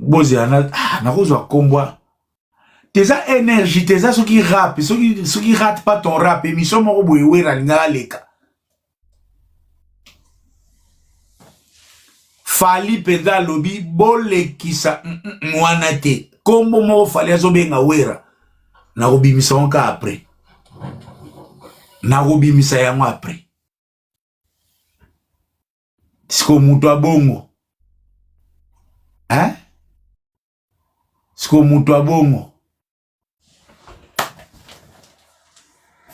bozela na ah, nakozwa kombwa teza energie teza soki rap soki soki rate pas ton rap émission moko boye wera alingaka leka fali mpenza alobi bolekisa mm, mm, mm, wana te nkombo moko fali azobenga wera nakobimisa yango ka apres nakobimisa yango apres siko moto ya bongo eh? siko moto ya bongo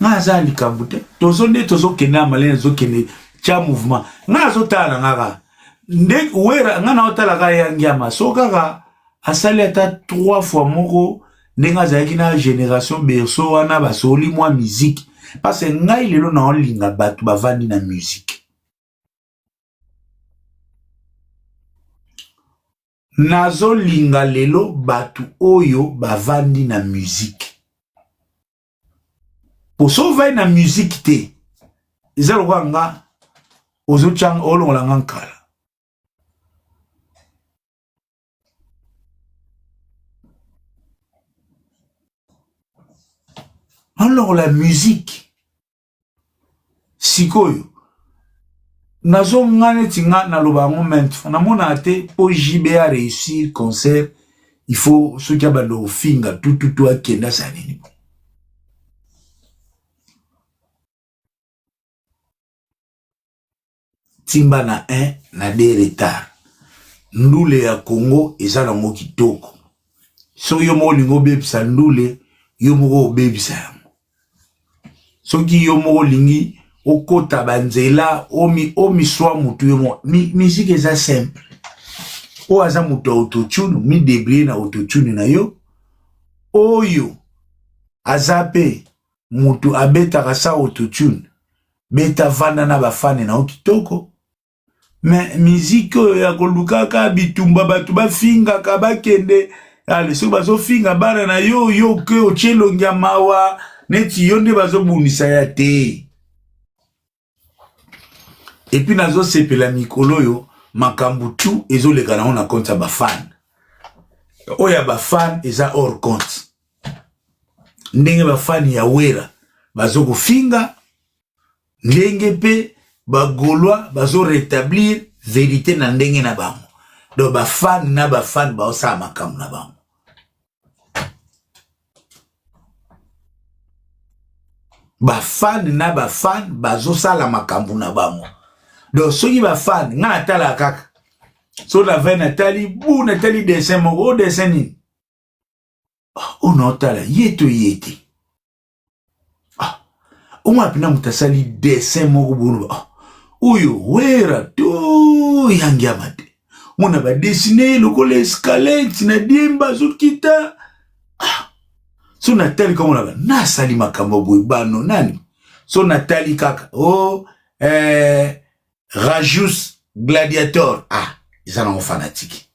nga aza likambo te tozo nde tozokende ya malene ezokende tya mouvement nga azotala na nga kaka nde wera nga naotalaka yangiama so kaka asali ata trois fois moko ndenge azalaki na generation berceau wana basoli mwa miziki parce ngai lelo naolinga bato bavandi na miziki nazolinga lelo bato oyo bavandi na miziki po so ovandi na miziki te eza lokola nga ozotyanga olongola nga nkala alors la musique sikoyo nazonga neti nga naloba yango mainte fois namonaka te mpo jb a réussir concert il faut soki abanda kofinga tututu akenda asala nini bo timba na un na deux retard ndule ya congo eza nango kitoko soki yo moko olingi obebisa ndule yo moko obebisa yango soki yo moko olingi okota banzela omi omiswa mutu yo moko mi, miziki eza simple oyo aza moto ya autotune midebrie na autotune na yo oyo aza mpe mutu abetaka sa autotune beta vanda na bafane na yo kitoko me miziki oyo ya kolukaka bitumba bato bafingaka bakende ale soki bazofinga bana na yo yo oke otie elongi ya mawa neti yo nde bazobundisa ya te epuis nazosepela mikolo oyo makambo tu ezoleka nango na compte ya bafane oyo ya bafane eza hors compte ndenge bafane ya wera bazokofinga ndenge mpe bagaulois bazoretablir verite na ndenge na bango donc bafane na bafane baosala makambo na bango bafane na bafane bazosala makambo na bango donc soki bafane ngai natalaka kaka so na ve natali bu natali dessin moko o oh, dessin nini ah, oyo naotala ye to ye te ah omona mpena moto asali dessin moko bono ah oyo wera to yangiama te mona badesine lokola escalate na diemba azokita ah so natali kaka mona nasali makambo boye bano nani so natali kaka o oh, eh, Rajus Gladiator ah eza nango fanatique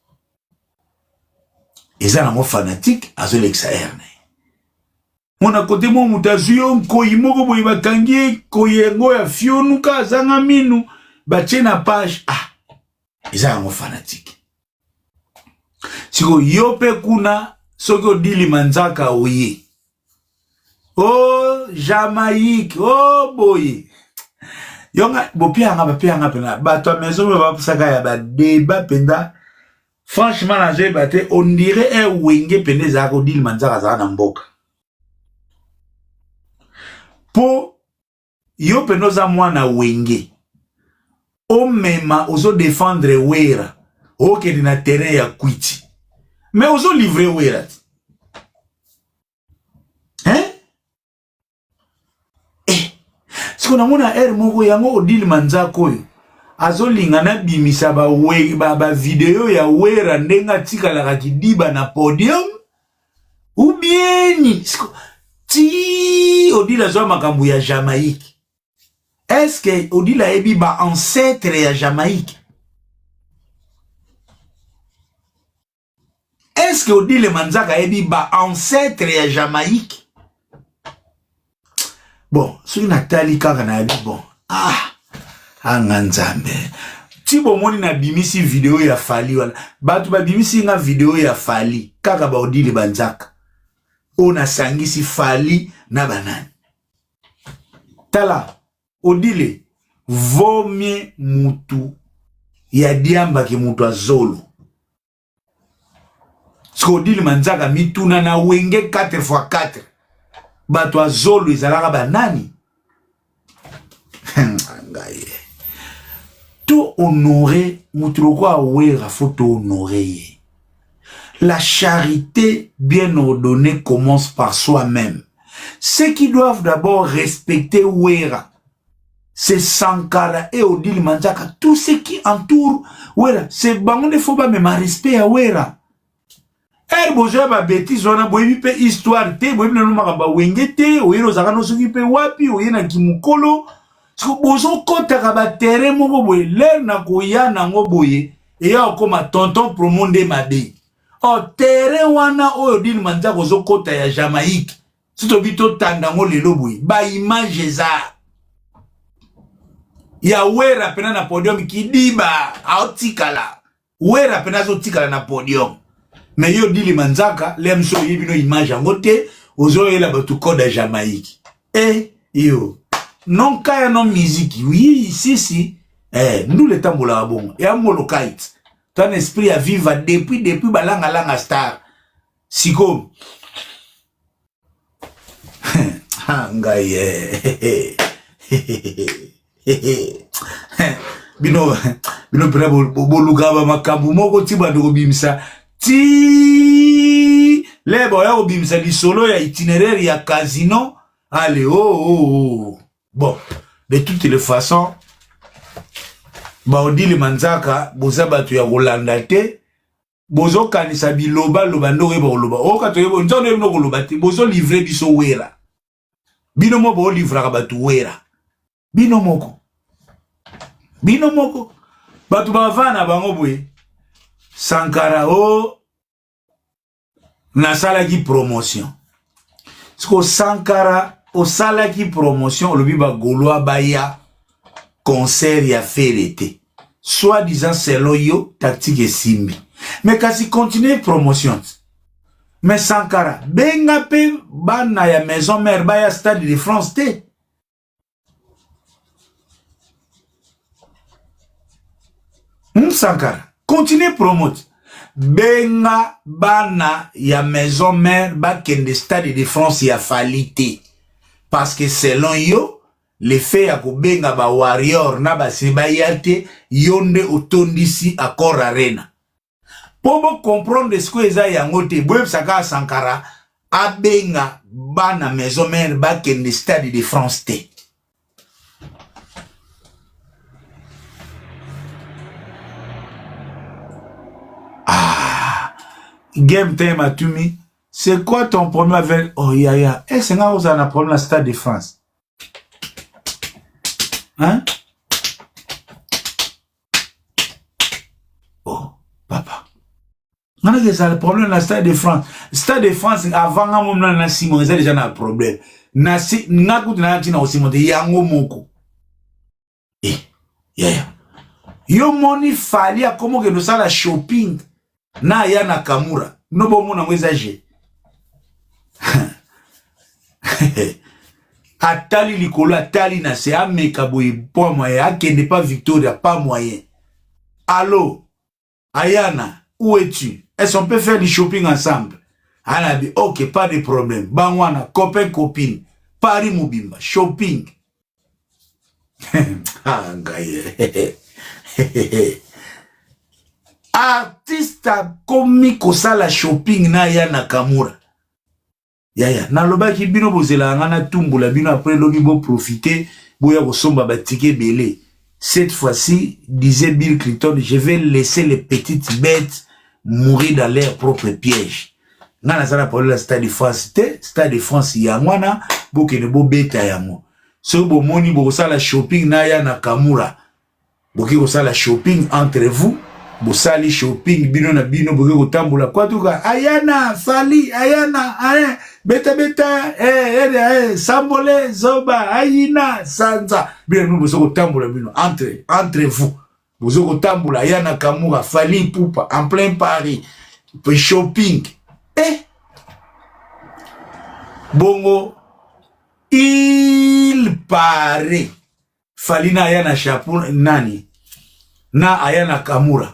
eza nango fanatique azolekisa air na ye mona kote mwa moto azwi yo nkoi moko boye bakangi ye nkoi yango ya fionuka azanga minu batie na page ah eza yango fanatique siko yo mpe kuna soki odili manzaka oye o oh, jamaïque o oh, boye yonga bopianga bapianga mpena bato ya maison oyo bapusaka ya badeba mpenza franchement nazoyeba te ondire e wenge mpenza ezalaka kodili manzaka azala na mboka mpo yo pene oza mwana wenge omema ozo defendre wera okende na terrain ya kwiti me ozo livre wera ti hein? eh. siko namona ere moko yango odile manzaka oyo azolinga nabimisa bavideo ba, ba ya wera ndenge atikalaka kidiba na podium ou bien nini ti odile azwa makambo ya jamaïque est ce que odile ayebi ba ancêtre ya jamaïque est ce que odile manzaka ayebi ba ancêtre ya jamaïque bon soki natali kaka nayebi bon ah anga nzambe ti bomoni nabimisi video ya fali wana bato babimisi nga video ya fali kaka baodile banzaka oyo nasangisi fali na banani tala odile vomie mutu ya diamba ke mutu azolo skodile manzaka mituna na wenge 4 x 4 bato ya zolo ezalaka banani ngai to honore moto lokola awera fo to honore ye la charité bien ordonnée commence par soi-même ceux qui doivent d'abord respecter wera c'est Sankara et Odile Manzaka, tout ce qui entoure Wera, c'est bango ne faut pas même respect à Wera. Er bozoya ba bêtise wana boyebi mpe histoire te boyebi nano makambo awenge te oyeli ozalaka no soki mpe wapi oye na kimokolo siko bozokɔtaka baterrain moko boye lere na koya nango boye eya okoma tonton promo nde mabe o oh, terrain wana oyo dini manzaka ozokɔta ya jamaïque so tobi totanda yango lelo boye baimage eza ya wera mpena na podium kidiba aotikala wera mpena azotikala na podium me yo dili manzaka lemso oyebi no image yango te ozoyela bato code ya jamaïque e eh, yo non kaya non miziki wi sisi eh, ndule etambolaka bongo ya molokite tana esprit ya viva depuis depuis balangalanga star sikoyo ngai eh. bino bino mpena boluka bamakambo moko ti bato kobimisa ti leba oya kobimisa lisolo ya itineraire ya casino ale oo oh, oh, oh. bon de toutes les façons baodile manzaka boza bato ya kolanda te bozokanisa biloba loba nde oyeba koloba oyoka toyeba nzambe oyebi no koloba te bozolivre biso wera bino moko boolivraka bato wera bino moko bino moko bato bavaa na bango boye sankara o oh, nasalaki promotion siko sankara osalaki promotion olobi bagolois baya concert ya fere te soit disant selo yo tactique esimbi mais kasi continue promotion mais sankara benga mpe bana ya maison mare baya stade de france te Hmm, Sankara, continue promote. Benga bana ya maison mère bakende stade de France ya Fally te. Parce que selon yo, le fait ya kobenga ba warrior na base baya te, yo nde otondisi accord arena. mpo bocomprendre sikoyo eza yango te boyebisa kaka sankara abenga bana maison mare bakende stade de france te ah, game time atumi c'est quoi ton problème avec oh ya ya ese eh, nga ozala na problème na stade de france hein oh papa ngana eza le problème na stade de France stade de France avant nga momna na Simon eza déjà na problème na si nga kutu na tina au Simon te yango moko eh yaya yeah, yeah. yo moni fali akomo ke nosala shopping na ya Nakamura no bomona yango eza je atali likolo atali na se ameka boye po moyen akende pa Victoria pa moyen allo Ayana où es-tu est-ce on peut faire du shopping ensemble anabi ok pas de problème bangwana copain copine Paris mobimba shopping ah, ngai artiste akomi kosala shopping na ya nakamura yaya nalobaki bino bozelaka ngai natumbula bino apres lobi boprofite boya kosomba batike ebele cette fois-ci disait bill clinton je vais laisser les petites bêtes mourir dans leur propre piège nga naza na problème ya stade de france te stade de france yango wana bokende bobeta yango soki bomoni bokosala shopping na ya na kamura bokoki kosala shopping entre vous bosali shopping bino na bino bokoki kotambola kwatuka ayana fali ayana aye betabeta eh, eh, eh, sambole zoba ayina sanza bino bino boza kotambola bino entre entre vous bozo kotambola ya nakamura fali pupa en plein paris pe shopping eh bongo il paraît fali na aya na chapeau nani na aya na kamura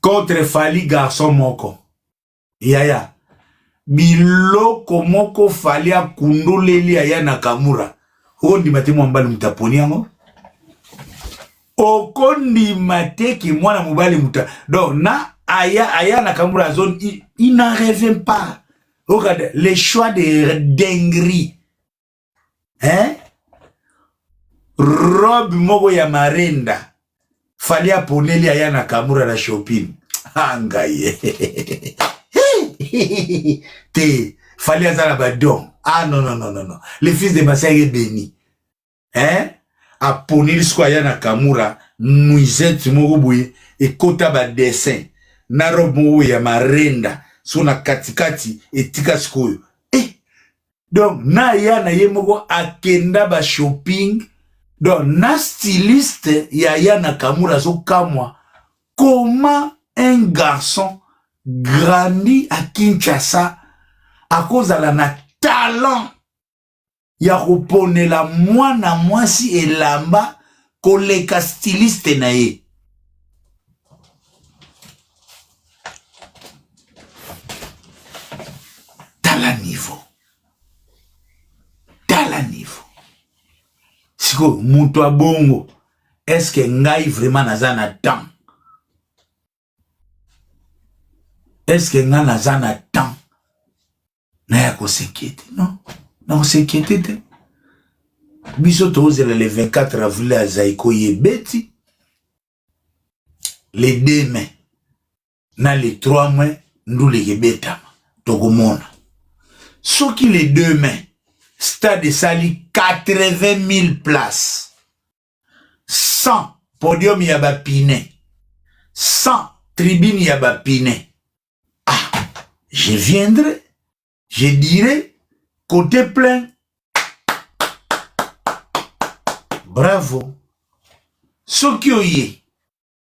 contre fali garçon moko yaya biloko moko fali akundoleli yaya nakamura ondima te mwa mobali moto aponi yango okondima te ke mwana mobali moto donc na aya aya nakamura azo il n'en revient pas okada le choix de dengri hein? robe moko ya marenda fali aponeli aya na kamura na shopping angaye te fali aza na badon ah non non non non le fils de masai ebeni hein? aponeli siko aya na kamura nuisette moko boye ekota badessin na robe moko ya marenda so na katikati etika sikoyo eh, donc na ya na ye moko akenda ba shopping donc na styliste ya ya na kamura azokamwa comment un garçon grandi à kinshasa akozala na talent ya koponela mwana mwasi elamba koleka styliste na ye tala niveau tala niveau sikoyo moto abongo eske ngai vraiment naza na temps est ce que nga naza na temps na ya kosinquiete non na kosinquiete te biso tozela le 24 avril ya zaiko ye ebeti le 2 mai na le 3 mai nduleke ebetama tokomona soki le 2 mai stade esali 80 000 place sans podium ya ba pine sans tribune ya ba pine ah je viendrai je dirai côté plein bravo soki oye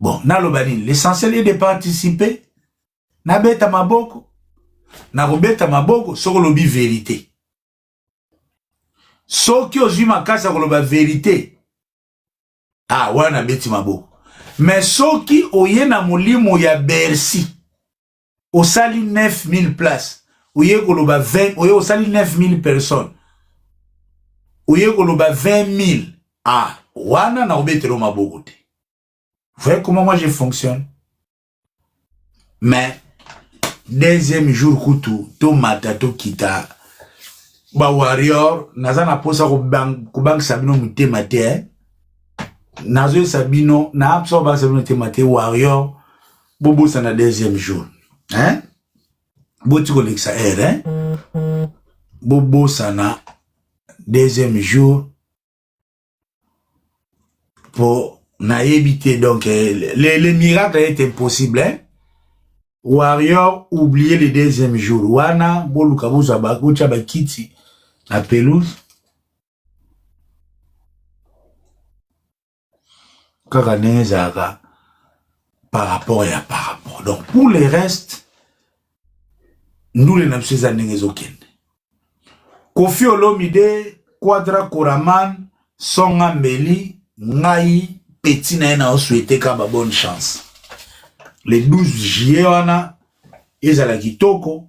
bon naloba nini l'essentiel ye de participer nabeta maboko nakobeta maboko soki olobi verite soki ozwi makasi ya koloba verite ah wana nabeti maboko me soki oye na molimo ya bercy osali 9000 place oye koloba 20 oye osali 9000 personnes oye koloba 20000 ah wana na obetelo maboko te voyez comment moi je fonctionne mais deuxième jour kutu tomata tokita ba warrior naza na posa kobangisa bino motema te eh. nazoyesa bino na apsa obangisa bino motema te warrior bobosana deuxième jour hein? boti kolekisa ere hein? bobosana deuxième jour po nayebi te donc eh, le, le miracle est impossible hein? warrior oublie le deuxième jour wana boluka bozwa bakotya bakiti na pelouse kaka ndenge ezalaka par rapport ya par rapport donc pour le reste ndule na biso eza ndenge ezokende kofi olomide quadra coraman songa mbeli ngai peti na ye na oswete ka ba bonne chance le 12 juillet wana ezala kitoko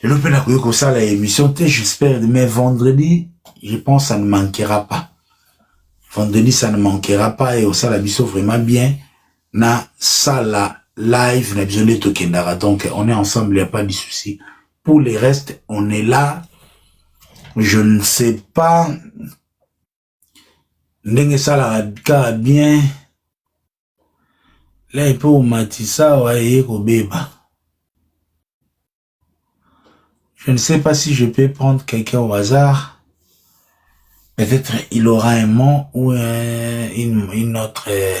lelo mpe nakoki kosala émission te j'espère mais vendredi je pense ça ne manquera pas vendredi ça ne manquera pas et osala biso vraiment bien na sala live na biso nde tokendaka donc on est ensemble ya pas de souci pour les restes on est là je ne sais pas ndenge esalaka kaka bien lei mpe omatisa awa eye kobeba je ne sais pas si je peux prendre quelqu'un au hasard peut-être il aura un mot ou un, une, une autre euh,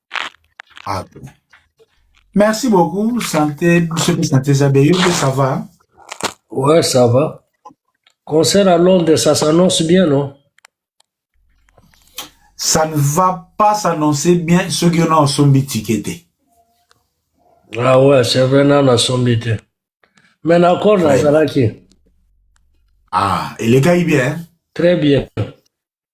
ah bon. merci beaucoup sante biso mpe sante eza bien yo mpe ça va hein? Ouais, ça va. Concert à Londres, ça s'annonce bien, non ça ne va pas s'annoncer bien soki yo na osombi tike te Ah ouais, c'est vrai, non, na sombi te. Mais na encore nazalaki. ah elekaki bien hein? Très bien.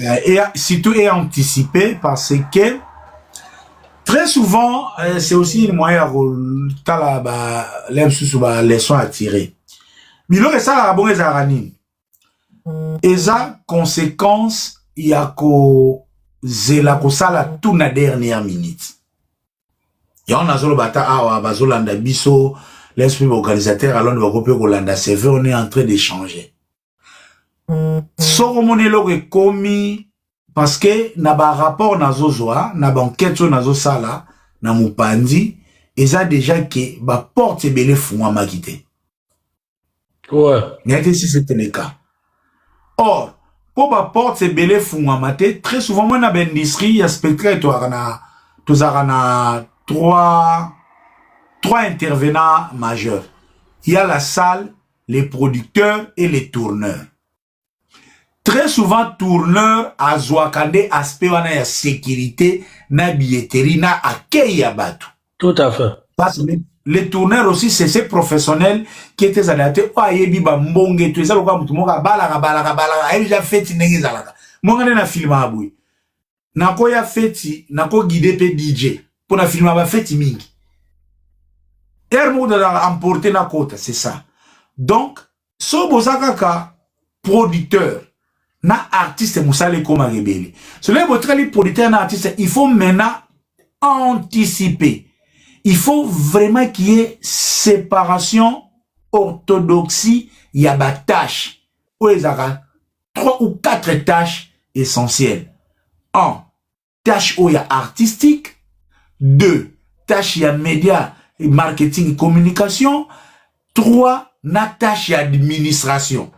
euh, et surtout et anticiper parce que très souvent euh, c'est aussi une moyen ya kotala ba le mosusu ba leçon à tirer biloko esalaka bongo ezalaka nini eza conséquence ya kozela kosala tout na dernière minute yango nazoloba ata awa bazolanda biso l'esprit organisateur alonde bako mpe kolanda c'est vrai on est en train de changer soko omoni eloko ekomi parce que na ba rapport nazozwa na bankete oyo nazosala na mopanzi eza deja ke baporte ebele efungwamaki te ouais. nayete si c'était le cas or mpo baporte ebele efungwama te très souvent moi na baindustrie ya spectacle tozalaka na tozalaka na trois trois intervenants majeurs ya la salle les producteurs et les tourneurs très souvent tourneur azwaka nde aspect wana ya sécurité na billetterie na accueil ya bato tout à fait parce que le tourneur aussi c'est ce professionnel qui est ezalaka te oyo ayebi bambonge to eza lokola moto moko abalaka balaka balaka ayebi ja feti ndenge ezalaka monga nde na filmaka boye nakoya feti nako guide pe DJ mpo na filma ba feti mingi heure moko tozalaka emporte na kota c'est ça donc so boza kaka producteur na artiste mosala ekomaka ebele soki botikali producteur na artiste il faut maintenant anticiper il faut vraiment qu'il y ait séparation orthodoxie ya batâche oyo ezalaka trois ou quatre tâches essentielles. Un, tâche oyo artistique. Deux, tâche ya média, marketing, communication. Trois, na tâche ya administration.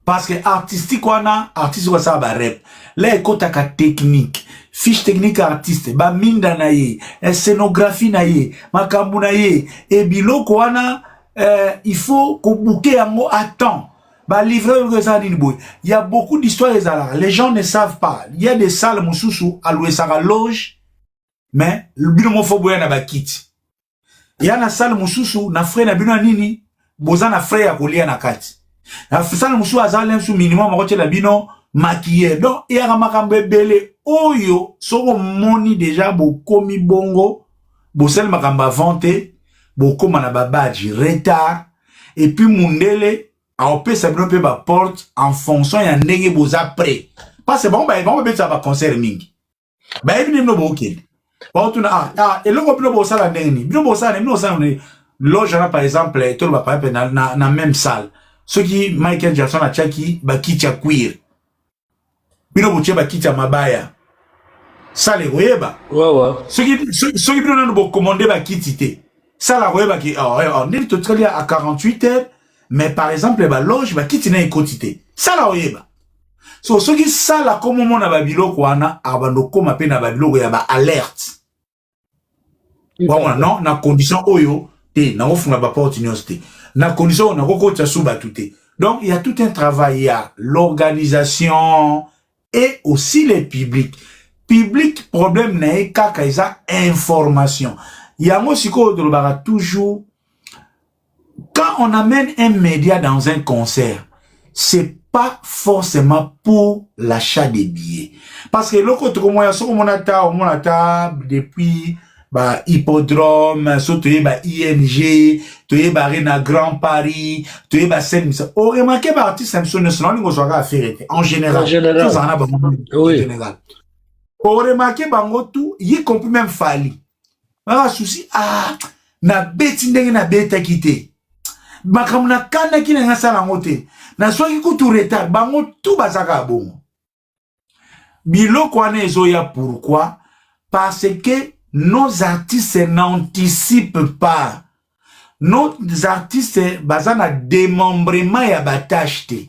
Parce que artistique wana, artiste oyo asala ba rep. La ekotaka technique. Fiche technique artiste, ba minda na ye, eh, scénographie na ye, makambo na ye, et biloko wana, euh, il faut kobuke yango à temps. ba livre oyo eza nini boye ya beaucoup d'histoire ezalaka les gens ne savent pas il y a des salles mosusu alouesaka loge mais bino mofo boya na bakiti ya na salle mosusu na frais na bino ya nini boza na frais ya kolia na kati na salle mosusu aza lensu minimum akotyela bino makiye donc eyaka makambo ebele oyo soki omoni deja bokomi bongo bosali makambo avant te bokóma na babaji retard et puis mundele aopesa bino mpe baporte en fonction ya ndenge boza prêt parce bango bango babetisa baconcert mingi bayebi nde bino bookende baotuna ah, ah, eloko bino bosala ndenge nini bino bosala nini bino bosala nini loge wana par exemple toloba par exemple na, na, na même salle soki michael jackson atiaki bakiti ya queer bino botie bakiti ya mabaya sala ekoyeba soki bino nano bokomande bakiti te sala akoyeba ke oh, oh, oh, ndenge totikali a 48 heures mais par exemple baloge bakiti na ekoti te sala oyeba so soki sala komomona babiloko wana abanda okoma mpe na babiloko ya baalerte Vraiment, non, na condition oyo, te, na ofunga ba porte nyonso te. Na condition oyo, na kokotisa sous bato te. Donc, il y a tout un travail, il y a l'organisation et aussi les publics. Public, problème na ye kaka eza information. Yango sikoyo tolobaka toujours Quand on amène un média dans un concert, c'est pas forcément pour l'achat des billets. Parce que loko tokomoya soko mona ta omona ta depuis ba hippodrome so toye ba ING toye ba arena grand Paris toye ba scène misa o oh, remarquer ba artiste na biso nyonso na ndenge ozwaka affaire te en général tozala na bango en général o oh, remarquer bango tout y compris même Fally Mama susi ah, nabeti ndenge nabetaki te makambo nakandaki na nga sala yango te nazwaki kutu retard bango tu bazaka ya bongo biloko wana ezoya pourkui parce que nos artistes n'anticipe pas nos artistes baza na démembrement ya batashe te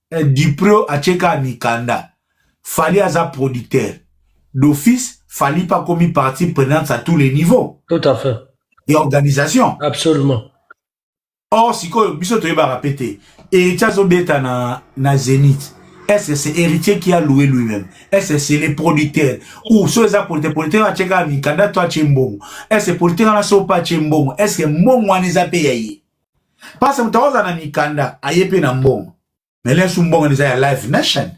Eh, Dupro atie kaka mikanda. Fally aza producteur. D'office, Fally pa komi partie prenante à tous les niveaux. Tout à fait. Et organisation. Absolument. Or, sikoyo, biso toyebaka pe te. Héritier azobeta na, na Zenith. Est-ce que c'est héritier qui a loué lui-même Est-ce que c'est les producteurs Ou ceux qui ont porté producteur à Tcheka Mikanda, toi Tchembongo Est-ce que producteur à la Sopa Tchembongo Est-ce que Mbongo en les a payés pasi moto aoza na mikanda aye mpe na mbongo mais lesu mbongo eza ya live nation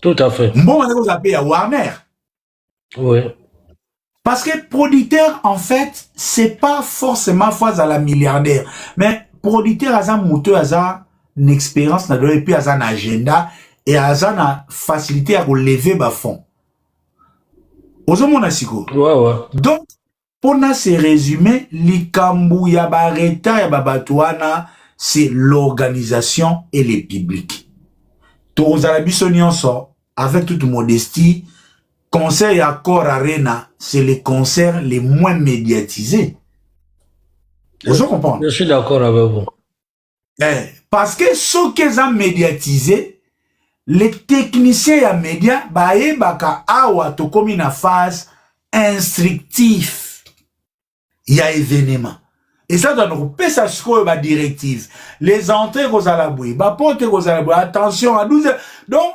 tout à fait mbongo eza kozala mpe ya warner oui. parce que producteur en fait c'est pas forcément fo azala milliardaire mais producteur aza moto aza na expérience na dolo epuis aza na agenda e aza na facilité ya koleve bafond ozomona sikoyo ouais, ouais. donc mpo na se resume likambo ya bareta ya babato wana c'est l'organisation et les publics tokozala biso nyonso avec toute modestie concert ya cor arena c'est le concert le moins médiatisé ozo comprendre je suis d'accord avec vous eh, parce que soki eza médiatise les techniciens ya média bayebaka awa tokomi na phase instructif ya événement eza tana kopesa sikoyo badirective les entrées ekozala boye baporte ekozala boye attention a 12 donc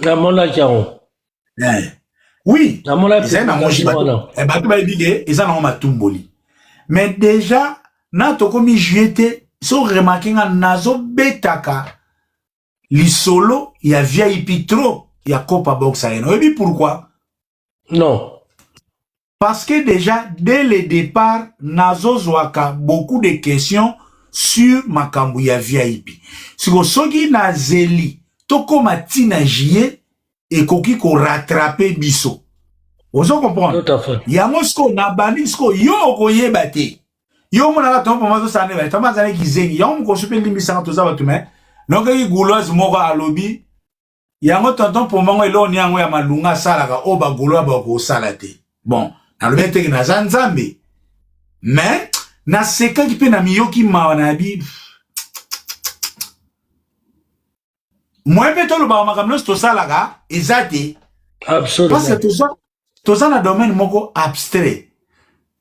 namonaki yango eh. oui eza na monji eh, bato bayebi ke eza nango matumboli mais déjà na tokomi juillet te so remarke nga nazobetaka lisolo ya vip trop ya copa box arena oyebi pourquoi Non. Parce que déjà, dès le départ, nazo zwaka beaucoup de questions sur makambo ya VIP. Siko soki na zeli, tokoma tina juillet, ekoki ko rattraper biso. Ozo comprendre? Tout à fait. Yango siko na bandi siko yo okoyeba te. Yo mona ka tombo mazo sane ba, tama zane kizengi. Yango mko supe limbisanga toza batu mais. Nokaki gouloise moko alobi yango tonton pomba ngo eloko ni yango ya malunga asalaka oyo bagoloa bakosala te bon nalobi eteke naza nzambe mais nasekaki mpe na miyoki mawa na yabi moye mpe tolobaka makambo nyonso tosalaka eza te parce que toza toza na domaine moko abstrait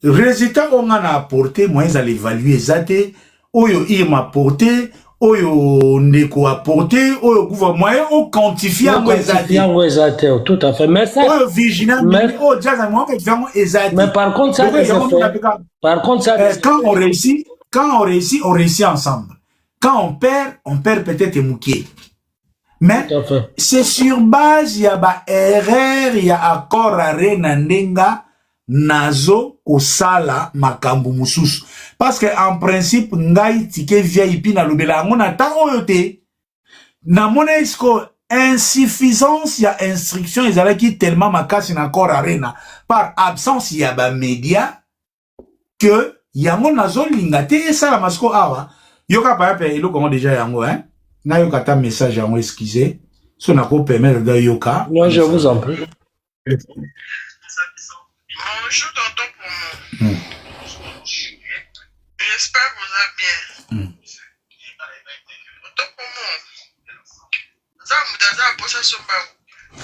résultat oyo ngai na apporte moyen ezala évalue eza te oyo irma apporte oyo ndeko apporte oyo kuva moyen oquantifie yango eza te yango eza te oh, tout à fait mais ça oyo virginia mais oyo oh, jazz yango quantifie yango eza te mais par contre ça les effets par contre ça euh, quand on réussit quand on réussit on réussit ensemble quand on perd on perd peut-être mukie mais c'est sur base ya ba erreur ya accord arena ndenga nazo kosala makambo mosusu parce que en principe ngai tike vip nalobela yango na ntango oyo te namonaki sikoyo insuffisance ya instruction ezalaki tellement makasi na accord arena par absence ya bamedia que yango nazolinga te esalama siko awa yoka par exemple eloko yango deja yango hein nayoka ata message yango excuse so nakopermettre da yoka moi je vous en prie Bonjour tonton Promo. Mm. J'espère que vous allez bien. Mm. Tonton Promo, aza moto aza na mposa asomba yango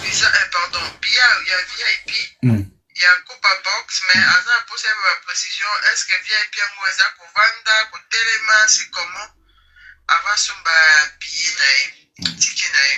visa eh, pardon bia ya vip mm. ya copa box mais aza na mposa yeba ba précision est ce que vip yango eza kovanda kotelema si comment avant asomba biye na ye mm. tike na ye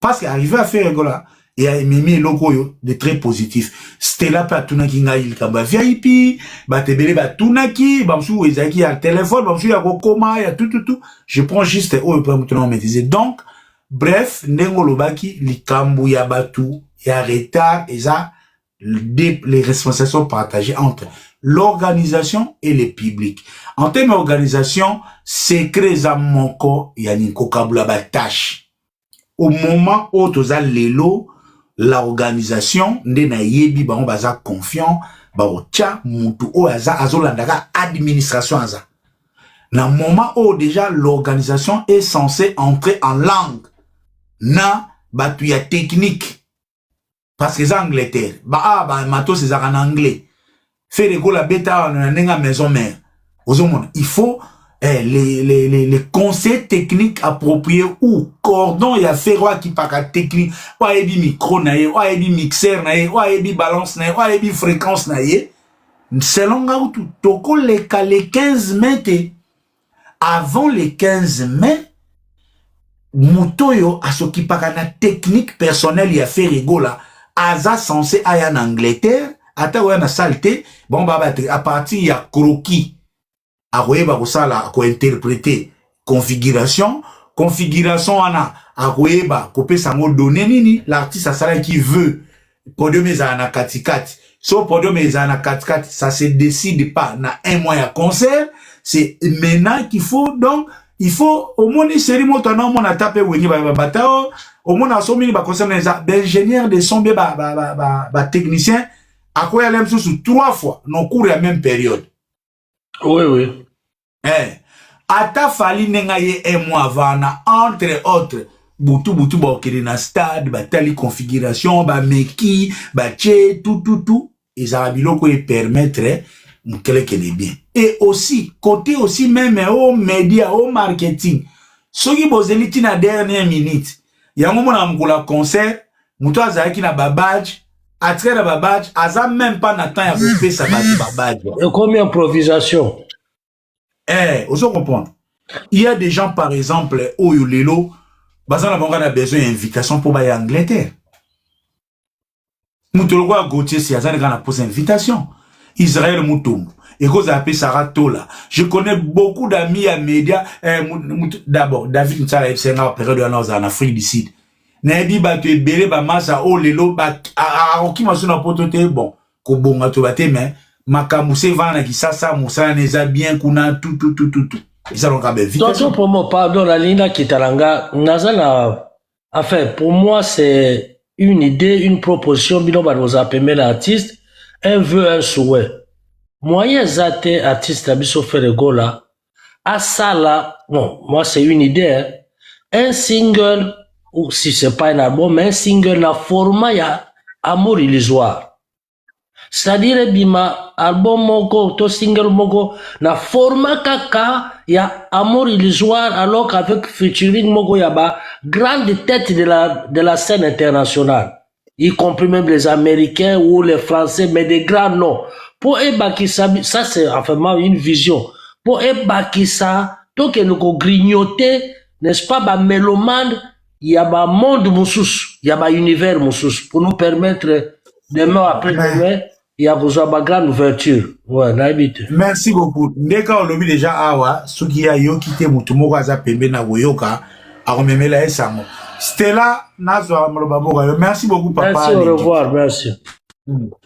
parce que arrivé à faire gola et à mimi eloko oyo de très positif stella mpe atunaki ngai likambo ya vip bato ebele batunaki bamosusu ezalaki ya telefone bamosusu ya kokoma ya tututu je prends juste oyo mpe moto na maîtrise donc bref ndenge olobaki likambo ya bato ya retard eza les responsabilités sont partagées entre l'organisation et le public. En termes d'organisation, secret eza moko ya ninkokabula ba tâche. Au moment où toza lelo, l'organisation nde na yebi bango baza confiant ba otia mutu oyo aza azolandaka administration aza. Na moment où déjà l'organisation est censée entrer en langue na batu ya technique parce que eza angleterre ba awa ba matos ezalaka na anglais fere kola beta awa na ndenge ya maison mère ozomona il faut eh, les, les, les, les conseils techniques appropriés ou cordon ya fere oyo akipaka technique oyo ayebi micro na ye oyo ayebi mixeur na ye oyo ayebi balance na ye oyo ayebi fréquence na ye selon nga kutu tokoleka le 15 mai te avant le 15 mai moto oyo asokipaka na technique personnel ya ferigola aza sense aya na angleterre ata oya na sale te bango baba a partir ya croki akoyeba kosala kointerprete configuration configuration wana akoyeba kopesa yango done nini l'artiste asalaki veu podium ezala na katikati so podium ezala na katikati ça se décide pas na un mois ya concert c'est maintenant qu'il faut donc il faut omoni seri moto ana omona ata mpe wenye babata o omona so mingi baconcert na eza baingénieur de son mpe batechnicien akoya le mosusu trois fois na cours ya même période oui oui eh ata fali ndenge aye un mois avant na entre autres butu butu bakokende na stade batali configuration bameki batie tututu ezalaka biloko epermettre mokelekele bien et aussi côté aussi meme o oh, media o oh, marketing soki bozeli ntina dernière minute yango omonaka mokolo ya concert moto azalaki na babage atire na babage aza meme pas na temps ya kopesa bato babage ekomi improvisation eh ozo comprendre il y a des gens par exemple oyo lelo baza na bango na besoin ya invitation mpo baya angleterre moto lokola gautier si azali kaka na posa invitation israel mutombo ekozala mpe sara tola je connais beaucoup d'amis ya média eh, d'abord david nsala ayebisa nga periode wana ozala na afrique du sud nayebi bato ebele bamasa oyo oh, lelo akoki maso na poto te bon kobonga toba te mais makambo se evanda na kisasa mosala na eza bien kuna tututututu eza loka bevitoto pomo pardon nalingi nakita na nga naza na enfin pour moi c'est une idée une proposition bino bato bozala pembeni na artiste un vœu un souhait moyen eza te artiste na biso fere gola asala bon moi c'est une idée hein, un single ou si c'est pas un album un single na format ya amour illusoire c'est-à-dire ebima album moko to single moko na format kaka ya amour illusoire alors qu'avec featuring moko ya ba grande tête de la, de la scène internationale y compris même les américains ou les français mais des grands noms po ebakisa ça c'est enfin une vision po ebakisa tokende ko grignoter n'est-ce pas ba mélomane ya ba monde mosusu ya ba univers mosusu pour nous permettre demain après demain ya kozwa ba grande ouverture ouais, nayebi te merci beaucoup ndeka olobi deja awa soki ayoki te motu moko aza pembeni na koyoka akomemela ye sango stela nazwa maloba mboka yo merci beaucoup papa merci au revoir merci mm.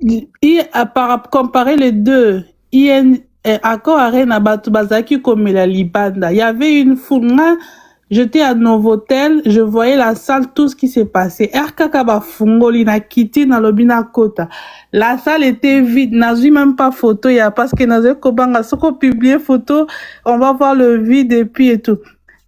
I- a- para- comparer les deux IN, eh, accord arena bato bazalaki komela libanda il y avait une foule nga j'étais à novotel je voyais la salle tout ce qui s'est passé rkk bafungoli na kiti nalobi nakota la salle était vide nazwi même pas photo ya parce que nazali kobanga soko publier photo on va voir le vide et puis et tout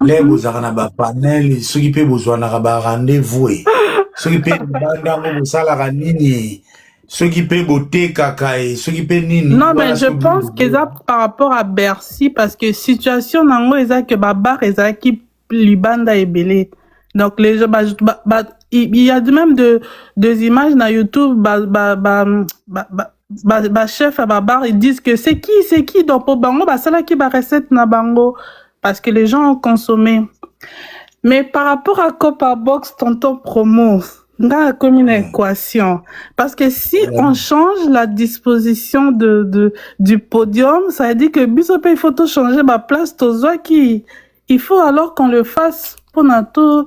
le bozalaka na bapanele soki mpe bozwanaka barendez-vous e soki mpe libanda yango bosalaka nini soki mpe botekaka e soki mpe nini non mais je pense que eza par rapport à bercy parce que situation na yango eza que babar ezalaki libanda ebele donc les gens ba, ba, ba, il y a même de, des images na youtube ba, ba, ba, ba, ba, ba, ba chef ya ba bar ils disent que c'est qui c'est qui donc po bango basalaki ba recette na bango parce que les gens ont consommé mais par rapport à copa box tonton promo nga nakomi na équation parce que si on change la disposition de, de du podium ça veut dire que biso mpe il faut to changer ba place tozwaki il faut alors qu'on le fasse mpona to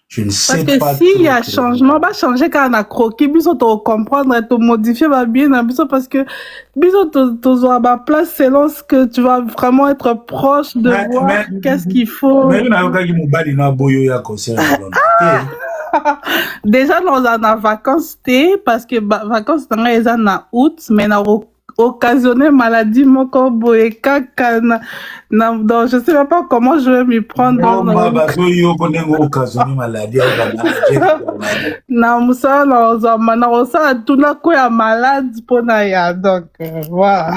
Je ne sais Parce pas que si il y a changement, bah changer quand on a croqué, biso to comprendre, to modifier va bien, hein, biso parce que biso to to zo ba place selon ce que tu vas vraiment être proche de mais, voir qu'est-ce qu'il faut. Mais na yoka ki mobali na boyo ya concert. Ah! Déjà dans la vacances té parce que bah, vacances na eza na août mais na occasionner maladie moko boye kaka na, na dans, je sais pas comment je vais m'y prendre dans- Mama bazoyi yo mpo ndenge occasionne maladie au Ghana. na mosala na ozamba na kosala tuna ko ya malade mpo na ya donc euh, voilà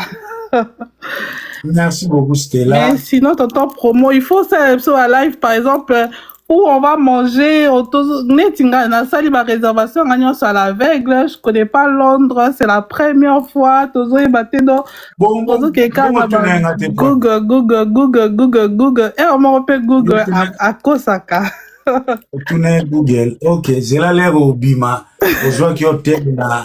Merci beaucoup Stella. mais sinon tonton promo il faut osala biso ba live par exemple euh, où on va manger auto- neti nga nasali ba réservation nga nyonso à l'aveugle je connais pas londres c'est la première fois tozoyeba te donc Bongo tozokeka bongo na ba tuna nga te papa. google google google google google eo moko mpe google Tuna a- akosaka tuna Google. OK, zela lero obima ozwaki yo tele na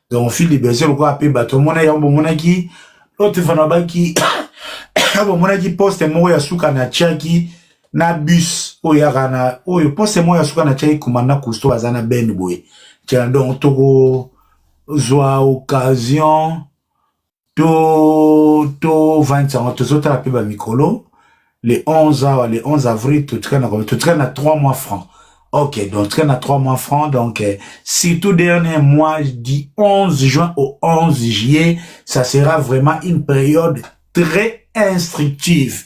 donc fil de besoin lokola mpe bato omona yango bomonaki lote fana baki bomonaki poste moko ya suka na tiaki na bus oyo yaka na oyo poste moko ya suka na tiaki komanda cousto aza na bene boye tiana donc tokozwa occasion to to vandi yango tozotala mpe bamikolo le 11 awa le 11 avril totika na totika na 3 mois franc ok donc totika na 3 mois franc donc eh, surtout dernier mois du 11 juin au 11 juillet ça sera vraiment une période très instructive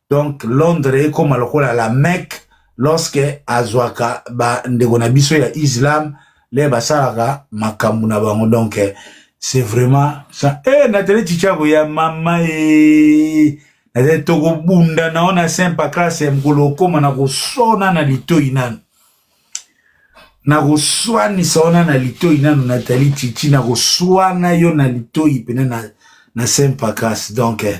donc londres ekoma lokola la mecque lorsque azwaka bandeko na biso ya islam le basalaka makambo na bango donc c'est vraiment ça e eh, natele chichago ya mama e natele tokobunda nao na saint pacras ya mokolo okoma na kosona na litoi nanu na koswanisa ona na litoi nanu natali chichi na koswana yo na litoi pene na, na saint pacras donc eh,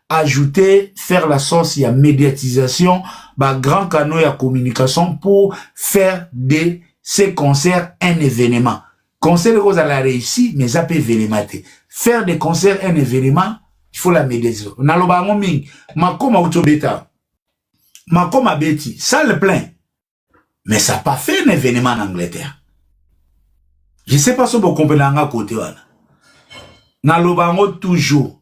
ajouter faire la sens ya médiatisation ba grand canaux ya communication pour faire de ces concerts un événement concert ekozala réussi mais eza mpe événement te faire des concerts un événement il faut la médiatisation naloba yango mingi makoma auti obeta makoma abeti salle plein mais ça pas fait un événement en angleterre je sais pas so bokompena yanga kote wana naloba yango toujours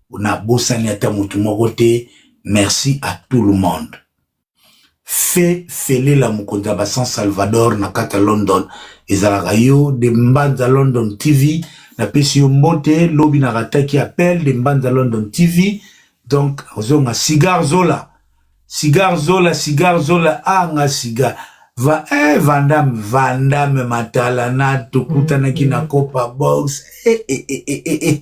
nabosani ata motu moko te merci à tout le monde fe felela mokonzi ya basan salvador na kati ya london ezalaka yo de mbanza london tv napesi yo mbote lobi na rataki appel de mbanza london tv donc ozonga cigar zola cigar zola cigar zola a ah, nga cigar va eh, vandame vandame matalana tokutanaki na mm. copa box eh, eh, eh, eh, eh. eh.